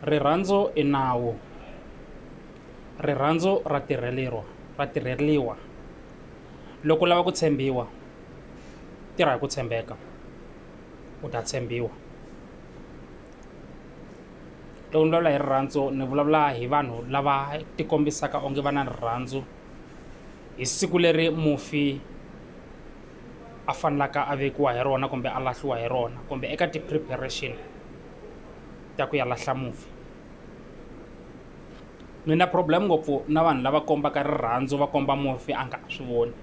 rirhandzu i nawu rirhandzu ra tirheleriwa ra tirheriwa loko u lava ku tshembiwa tirha hi ku tshembeka u ta tshembiwa loko ni vulavula hi rirhandzu ni vulavula hi vanhu lava tikombisaka onge va na rirhandzu hi siku leri mufi. a fanelaka a vekiwa hi rona kumbe a lahliwa hi rona kumbe eka ti-preparation ta ku ya lahla mufi ni na problem ngopfu na vanhu lava kombaka rirhandzu va komba mufi a nga ha swi voni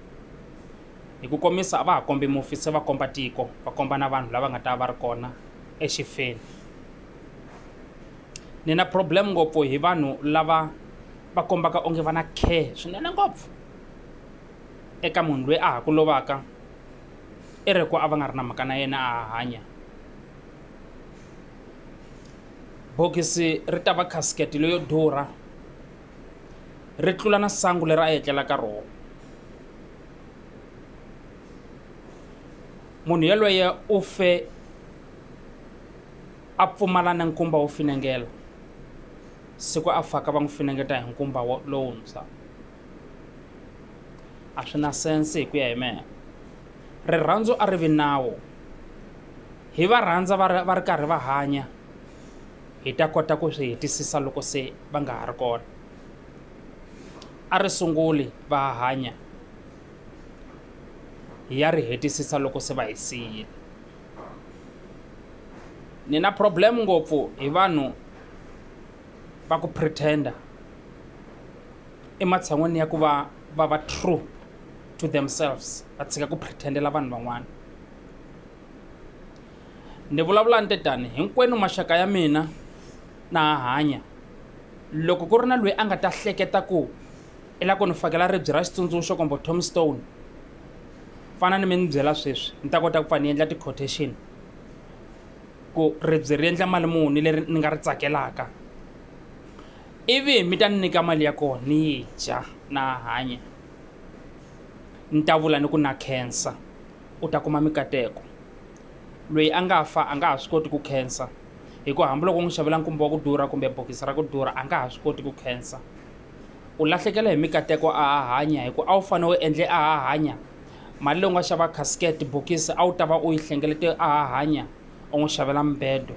hi ku komisa a va ha kombi mufi se va komba tiko va komba na vanhu lava nga ta va ri kona exifeni ni na problem ngopfu hi vanhu lava va kombaka onge va na care swinene ngopfu eka munhu loyi a ha ku lovaka i ri ku a va nga ri na mhaka na yena a ha hanya bokisi ri ta va khasikete leyo durha ri tlula na sangu leri a yi etlela ka rona munhu yelweye u fe a pfumala na nkumba wo finengela siku a faka va n'wi finengeta hi nkumba lowuntshwa a swi na sense hi ku ya hi mehe rirhandzu a ri vi nawu hi va rhandza va ri va ri karhi va hanya hi ta kota ku swi hetisisa loko se va nga ha ri kona a ri sunguli va hanya hi ya ri hetisisa loko se va hi siyile ni na problem ngopfu hi vanhu va ku pretender ematshan'wini ya ku va va va true to themselves va tshika ku pretendela vanhu van'wana ni vulavula ni te tani hinkwenu maxaka ya mina na ha hanya loko ku ri na loyi a nga ta hleketa ku i la ku ni fakela ribye ra xitsundzuxo kumbe tomstone fana ni mi ni byela sweswi ni ta kota ku pfa ni endla ti-quotation ku ribye ri endla mali muni leri ni nga ri tsakelaka Ivi mi ta ni nyika mali ya kona ni yi dya na ha hanya, ni ta vula ni ku na khensa, u ta kuma mikateko. Loyi a nga fa a nga ha swi koti ku khensa, hikuva hambiloko u n'wi xavela nkumba wa ku durha kumbe bokisi ra ku durha a nga ha swi koti ku khensa. U lahlekela hi mikateko a ha hanya hikuva a wu fanele u endle a ha hanya mali leyi u nga xava casket bokisi a wu ta va u yi hlengelete a ha hanya u n'wi xavela mubedo.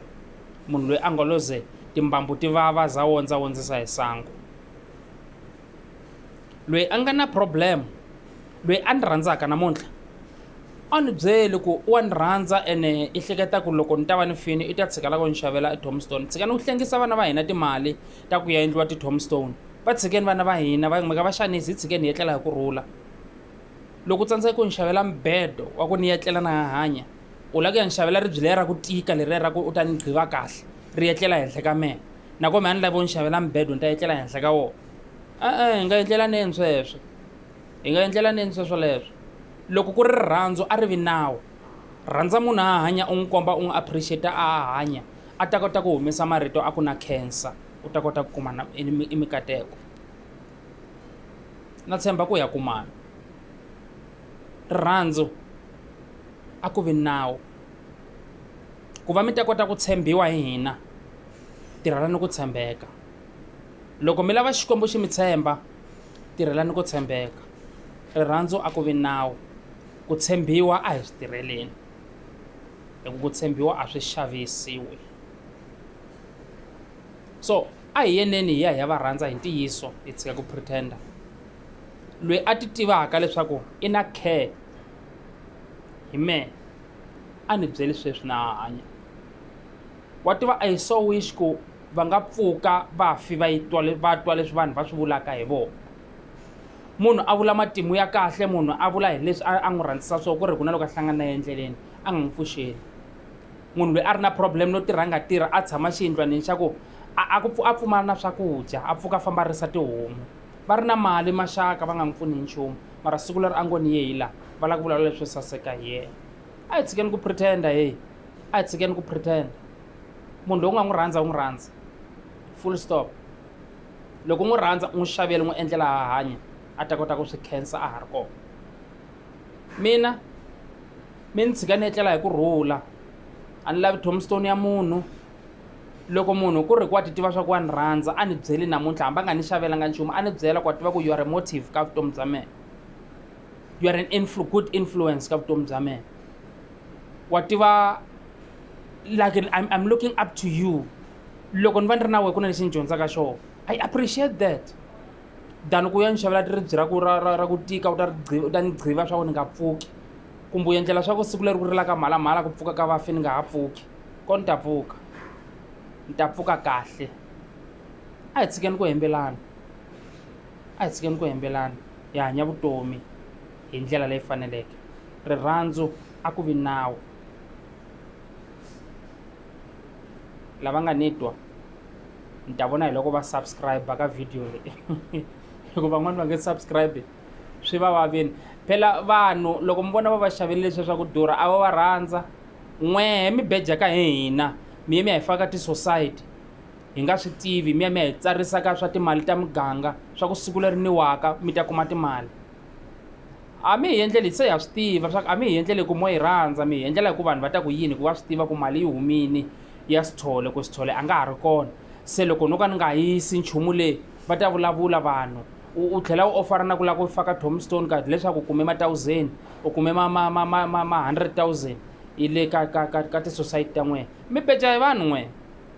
Munhu loyi a ngoloze timbambu ti vava za wondza wondzisa hi sangu loyi a nga na problem loyi a ni rhandzaka namuntlha a ni byeli ku wa ni rhandza ene i hleketa ku loko ni ta va ni fini i ta tshika lako ni xavela etombstone tshika ni ku hlengisa vana va hina timali ta ku ya endliwa titombstone va tshikeni vana va hina va kumeka va xanisi hi tshikeni hi etlela hi ku rhula loko u tsandzeka ku ni xavela mibedo wa ku ni etlela na hahanya U lava ku ya ni xavela ribye leri ra ku tika leriya ra ku u ta ni gqiva kahle ri etlela henhla ka mehe nako mehe a ni lavi u ni xavela mibedo ni ta etlela henhla ka wona e-e hi nga endlelaneni sweswo hi nga endlelaneni sweswo leswo loko ku ri rirhandzu a ri vi nawu rhandza munhu a hanya u n'wi komba u n'wi appreciate a hanya a ta kota ku humesa marito a ku na cancer u ta kota ku kuma na i mikateko na tshemba ku ya kumana. Rirhandzu a ku vi nawu. Ku va mi ta kota ku tshembiwa hi hina, tirhelani ku tshembeka. Loko mi lava Xikwembu xi mi tshemba, tirhelani ku tshembeka. Rirhandzu a ku vi nawu. Ku tshembiwa a hi swi tirheleni, hi ku ku tshembiwa a swi xavisiwi. So a hi yeneni hi ya hi ya va rhandza hi ntiyiso, hi tshika ku pretender. loyi a ti tivaka leswaku i na care hi mehe a ni byeli sweswi na ha hanya wa tiva a yi so wish ku va nga pfuka vafi va yi twa va twa leswi vanhu va swi vulaka hi vona munhu a vula matimu ya kahle munhu a vula hi leswi a n'wi rhandzisa swo ku ri ku na loko a hlangana na ye endleleni a nga n'wi pfuxeli munhu loyi a ri na problem no tirha a nga tirha a tshama xiyindlwanini xa ku a pfumala na swakudya a pfuka a famba a risa tihomu va ri na mali maxaka va nga n'wi pfuni hi nchumu mara siku leri a ngo ni ye hi laha va lava ku vulavula leswo saseka hi yena a hi tshikeni ku pretenda heyi a hi tshikeni ku pretenda munhu loyi u nga n'wi rhandza u n'wi rhandza full stop loko u n'wi rhandza u n'wi xavele n'wi endlela ha hanya a ta kota ku swi khensa a ha ri kona mina mi ni tshika ni etlela hi ku rhula a ni lavi tombstone ya munhu loko munhu ku ri ku wa ti tiva swa ku wa ni rhandza a ni byeli namuntlha hambi a nga ni xavelanga nchumu a ni byela ku wa tiva ku you are a motive ka vutomi bya mehe you are an influ good influence ka vutomi bya mehe wa tiva like I'm, I'm looking up to you loko ni va ni ri na wehe ku na lexi ni dyondzaka xona i appreciate that than ku ya ni xavela tiribyi ra ku ra ra ra ku tika u ta ri u ta ni gqiva swa ku ni nga pfuki kumbe u endlela swa ku siku leri ku rilaka mhalamhala ku pfuka ka vafi ni nga ha pfuki Ko ni ta pfuka, ni ta pfuka kahle. A hi tshikeni ku hembelana, a hi tshikeni ku hembelana hi hanya vutomi hi ndlela leyi faneleke. Rirhandzu a ku vi nawu. Lava nga ni twa ni ta vona hi loko va subscribe ka video leyi hikuva van'wana va nge subscribe swi va vavini phela vanhu loko mi vona va va xavele leswiya swa ku durha a va va rhandza N'wehe mi beja ka hi hina, mi ya mi ya hi faka ka tisosayiti hi nga swi tivi, mi ya mi ya hi tsarisa ka swa timali ta muganga swa ku siku leri niwaka mi ta kuma timali. A mi hi endleli, se ha swi tiva swa ku a mi hi endleli hi ku mo hi rhandza, mi hi endlela hi ku vanhu va ta ku yini hi ku va swi tiva ku mali yi humile ya Sithole ku Sithole a nga ha ri kona, se loko no ka ni nga yisi nchumu le va ta vulavula vanhu. u tlhela u ofara na ku lava ku faka tombstone card leswaku u kume ma-thousand u kume ma-hundred thousand yi le ka ka ka ka tisosayiti ta n'wina mi beja hi vanhu n'wina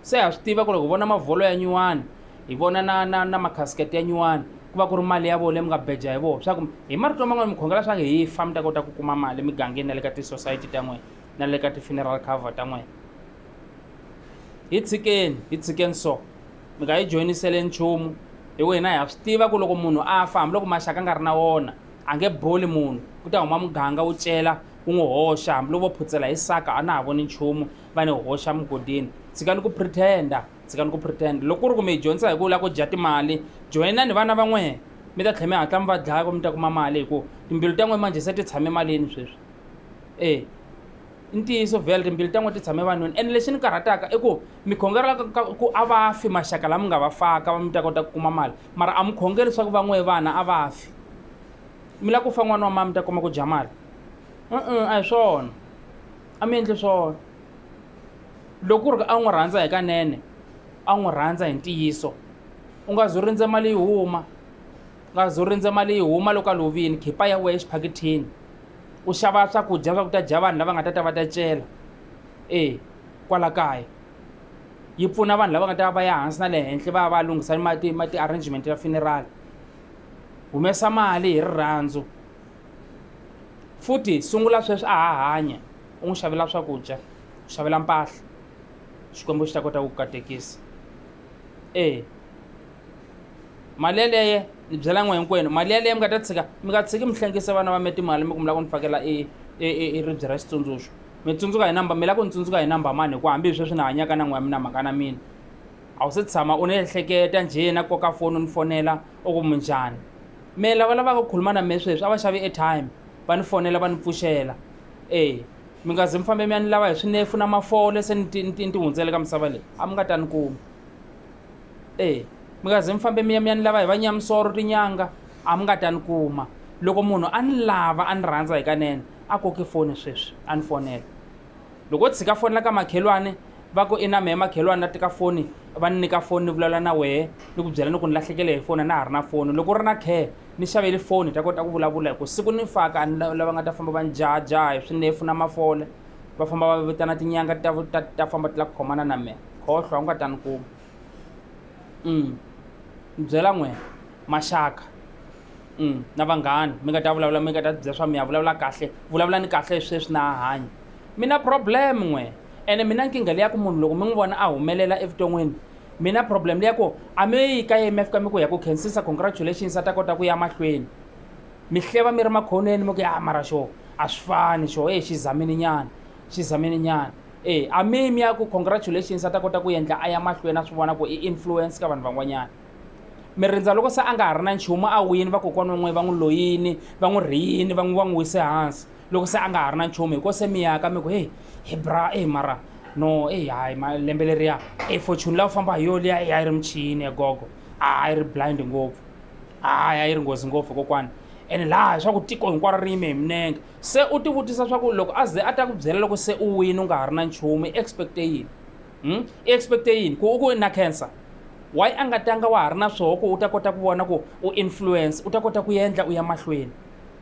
se ha swi tiva ku ri hi vona mavholo ya nyuwani hi vona na na na makhasikete ya nyuwani ku va ku ri mali ya vona leyi mi nga beja hi vona swa ku hi marito man'wani mi khongela swa ku hi fa mi ta kota ku kuma mali emigangeni na le ka tisosayiti ta n'wina na le ka ti-funeral cover ta n'wina hi tshikeni hi tshikeni so mi nga yi joyinisele nchumu hi wena ha swi tiva ku loko munhu a fa hambiloko maxaka a nga ri na wona a nge boli munhu ku ta huma muganga wu cela wu n'wi hoxa hambiloko vo phutsela hi saka a na ha voni nchumu va ni hoxa mugodini tshikani ku pretenda tshikani ku pretenda loko ku ri ku mi yi dyondzisa hi ku lava ku dya timali joyina ni vana va n'wehe mi ta tlhela mi hatla mi va dlaya ku mi ta kuma mali hikuva timbilu ta n'we manje se ti tshame malini sweswi e i ntiyiso vhele timbili ta n'we ti tshame vanhwini ene lexi ni karhataka i ku mi khongela ku a va fi maxaka lama nga va faka va mi ta kota ku kuma mali mara a mi khongeli swa ku va n'we vana a va fi mi lava ku fa n'wana wa mani mi ta kuma ku dya mali u a hi swona a mi endli swona loko ku ri a n'wi rhandza hi kanene a n'wi rhandza hi ntiyiso u nga zo rindze mali yi huma u nga zo rindze mali yi huma loko a lovini khipa ya wehe exiphakithini u xava swakudya swa ku ta dya vanhu lava nga ta ta va ta cela e kwala kaya yi pfuna vanhu lava nga ta va ya hansi na le henhla va ya va lunghisa mati mati arrangement ya funeral humesa mali hi rirhandzu futhi sungula sweswi a ha hanya u n'wi xavela swakudya u xavela mpahla xikwembu xi ta kota ku katekisa e mali yaleye ni byela n'we hinkwenu mali yaleye mi nga ta tshika mi nga tshiki mi hlengisa vana va mi timali mi ku mi lava ku ni fakela i i ribye ra xitsundzuxo mi tsundzuka hi number mi lava ku ni tsundzuka hi number mani hi ku hambi hi sweswi ni hanyaka na n'we ya mina mhaka na mina a wu se tshama u ni ehleketa njhe na koka foni u ni fonela u ku munjhani me lava lavaka ku khuluma na me sweswi a va xavi airtime va ni fonela va ni pfuxela e mi nga ze mi fambe mi ya ni lava hi swinefu na mafole se ni ti hundzele ka misava leyi a mi nga ta ni kuma E, mi nga ze mi fambe mi ya mi ya ni lava hi vanyamisoro tinyanga a mi nga ta ni kuma loko munhu a ni lava a ni rhandza hikanene a koki foni sweswi a ni fonela loko o tshika fonela ka makhelwani va ku i na mehe makhelwani na teka foni va ni nyika foni ni vulavula na wehe ni ku byela ni ku ni lahlekele hi foni a na ha ri na foni loko u ri na care ni xaveli foni hi ta kota ku vulavula hi ku siku ni faka a ni lava nga ta famba va ni jahajaha hi swinefu na mafola va famba va vitana tinyanga ta ta ta famba ti la ku khomana na mehe khohlwa u nga ta ni kuma um ni byela n'wina maxaka um na vanghani mi nga ta vulavula mi nga ta bya swa mi ya vulavula kahle vulavula ni kahle sweswi na hanya mi na problem n'wina ene mina nkingha leya ku munhu loko mi n'wi vona a humelela evuton'wini mina problem leya ku a mi yi ka yemi fika mi ku ya ku khensisa congratulations a ta kota ku ya mahlweni mi hleva mi ri makhonweni mi ku ya mara xo a swi fani xo e xi zamini nyana xi zamini nyana e a mimi ya ku congratulations a ta kota ku endla a ya mahlweni a swi vona ku i influence ka vanhu van'wanyana mi rindza loko se a nga ha ri na nchumu a wini vakokwana van'we va n'wi loyini va n'wi rhiyini va n'wi va n'wi wise hansi loko se a nga ha ri na nchumu hikuva se mi yaka mi ku heyi hi bra e mara no eyi hayi malembe leriya e fortune la u famba hi yo liya a yi ri michini ya gogo a yi ri blind ngopfu hayi a yi ri nghozi ngopfu kokwana ene laha swa ku tiko hinkwaro ri yime hi minenge Se u tivutisa swa ku loko a ze a ta ku byela loko se u wini u nga ha ri na nchumu i expecte yini hmm? i expecte yini ku u ku na cancer why a nga tanga wa ha ri na swoho ku u ta kota ku vona ku u influence u ta kota ku endla u ya mahlweni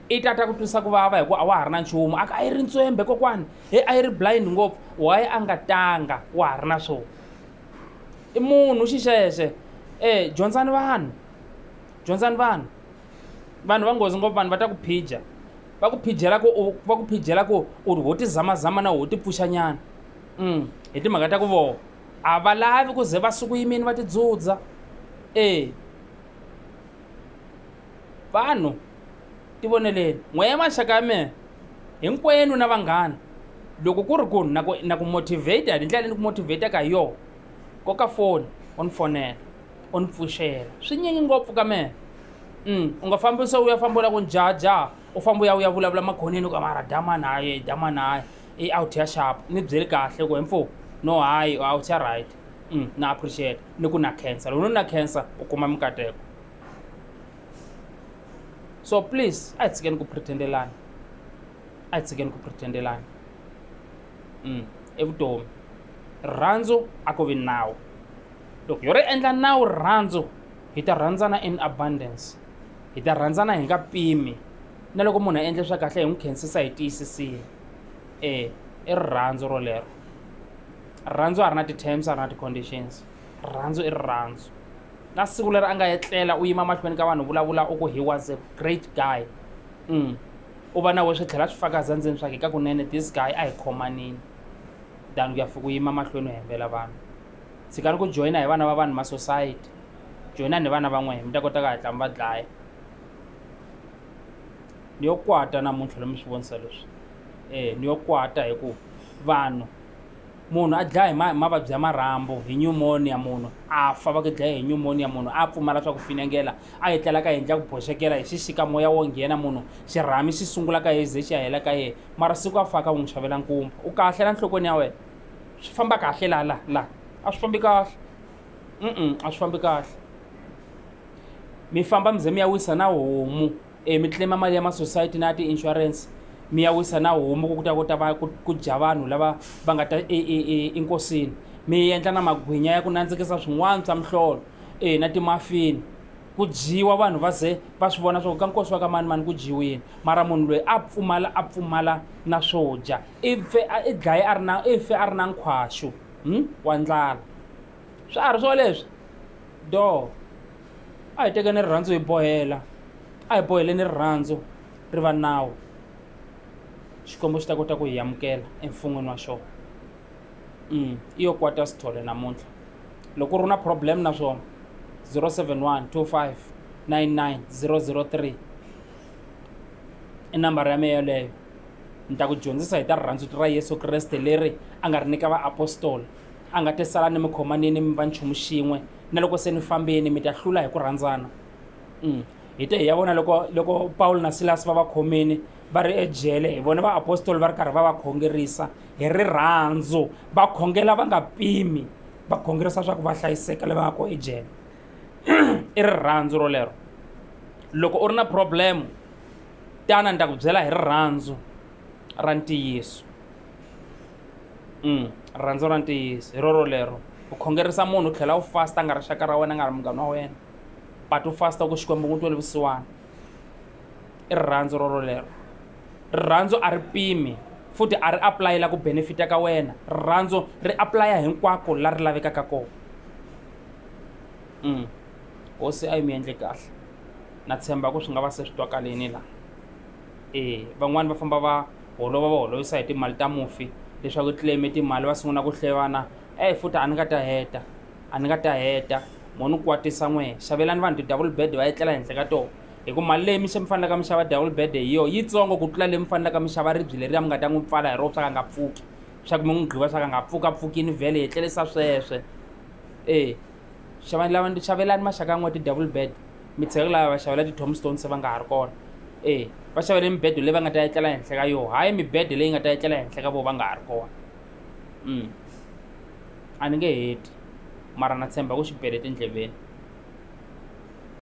i ta ta ku twisa ku vava hikuva a wa ha ri na nchumu a a yi ri ntswembe kokwana he a yi ri blind ngopfu why a nga tanga wa ha ri na swoho i munhu xixexe e dyondzani vanhu dyondzani vanhu vanhu va nghozi ngopfu vanhu va ta ku phija va ku phijela ku va ku phijela ku u ri ho tizamazama na ho tipfuxanyana um hi timhaka ta ku voho a va lavi ku ze va suku yimini va tidzudza e vanhu ti voneleni n'wehe maxaka ya mehe hinkwenu na vanghana loko ku ri ku na ku na ku motivate hi ndlela leyi ni ku motivate-aka hi yona koka foni u ni fonela u ni pfuxela swinyingi ngopfu ka mina um u nga fambi se u ya famba u la ku ni jahajaha u famba u ya u ya vulavula makhoneni u ka mara dama naye dama naye i out ya xapa ni byeli kahle ku hemfo no hayi u out ya right um na appreciate ni ku na cancer loko ni na cancer u kuma mikateko so please a hi tshikeni ku pretendelana a hi tshikeni ku pretendelana um evutomi rirhandzu a ko vi nawu loko yo ri endla nawu rirhandzu hi ta rhandzana in abundance hi ta rhandzana hi nga pimi na loko munhu a endle swa kahle hi n'wi khensisa hi tiyisisile e i rirhandzu rolero rirhandzu a ri na ti-terms a ri na ti-conditions rirhandzu i rirhandzu na siku leri a nga etlela u yima mahlweni ka vanhu vulavula u ku he was a great guy mm. u va na we swi tlhela swi faka zandzeni swake ka kunene this guy a hi khomanini than ku ya fika u yima mahlweni u hembela vanhu tshikani ku joyina hi vana va vanhu ma society joyinani hi vana va n'wehe mi ta kota ku hatla mi va dlaya ni yo kwata namuntlha lomi swi vonisa leswi um ni yo kwata hi ku vanhu munhu a dlaya hi mavabyi ya marhambo hi pneumonia munhu a fa va ku dlaya hi pneumonia munhu a pfumala swa ku finengela a yi tlelaka yendla ku boxekela hi xixika moya wo nghena munhu xirhami xi sungula ka ye ze xi ya hela ka yena mara siku a faka u n'wi xavela nkumba u kahle la nhlokweni ya wena swi famba kahle laha laha laha a swi fambi kahle mm a swi fambi kahle mi famba mi ze mi ya wisa na homu um eh, mi tlema mali ya masociety na ya ti-insurance mi ya wisa na homu ku kuta kota va ku dya vanhu lava va nga ta e, e, e, enkosini mi endla na magwinya ya ku nandzikisa swin'wana swa mihlolo e na timafini ku dyiwa vanhu va ze va swi vona swa ku ka nkosi wa ka mani mani ku dyiwini mara munhu loyi a pfumala a pfumala na swo dya i fe a i dlaye a ri na i fe a ri na nkhwaxu hmm? wa ndlala swa ha ri swoleswi do a hi tekeni rirhandzu hi bohela a hi boheleni rirhandzu ri va nawu xikwembu xi ta kota ku hi amukela emfun'wini wa xona mm. i yo kwata sithole namuntlha loko ri na problem na swona 071 25 99 003 i nambara ya meya yeleyo ni ta ku dyondzisa hi ta rirhandzu ra yesu kreste leri a nga ri nyika vaapostola a nga te sala ni mi khomanini mi va nchumu xin'we na loko se ni fambeni mi ta hlula hi ku rhandzana mm. hi te hi ya vona loko loko pawulo na silasi va va khomini va ri ejele hi vona vaapostoli va ri karhi va va khongerisa hi rirhandzu va khongela va nga pimi va khongerisa swa ku va hlayiseka lava nga ko ejele i rirhandzu rolero loko u ri na problemu tana ni ta ku byela hi rirhandzu ra ntiyiso mm, rirhandzu ra ntiyiso hi roro lero u khongerisa munhu u tlhela u fasta nga rixaka ra wena nga ri munghana wa wena but u fasta ku xikwembu ku tweli vusiwana i rirhandzu roro lero rirhandzu a ri pimi futhi a ri aplayela ku benefita ka wena rirhandzu ri aplaya hinkwako la ri lavekaka kona mm. hosi a yi mi endle kahle na tshemba ku swi nga va se swi twakalini laha e van'wani va famba va holova va holovisa hi timali ta mufi leswaku claim timali va sungula ku hlevana e futhi a ni nga ta heta a ni nga ta heta mo ni kwatisa n'we xavelani vanhu ti-double bed va etlela henhla ka tona hi ku mali leyi mi xe mi fanelaka mi xava double bed hi yona yitsongo ku tlula leyi mi fanelaka mi xava ribyi leriya mi nga ta n'wi pfala hi rona swa ka nga pfuki swa ku mi n'wi gqiva swa ka nga pfukapfukini vhele hi tlelisa sweswe e xavani lava ndi xavelani maxaka n'we ti-double bed mi tshika lava va xavela ti-tomstone se va nga ha ri kona e va xavele mibedo leyi va nga ta etlela henhla ka yona hayi mibedo leyi nga ta etlela henhla ka vona va nga ha ri kona um a ni nge heti mara na tshemba ku xi bele tindleveni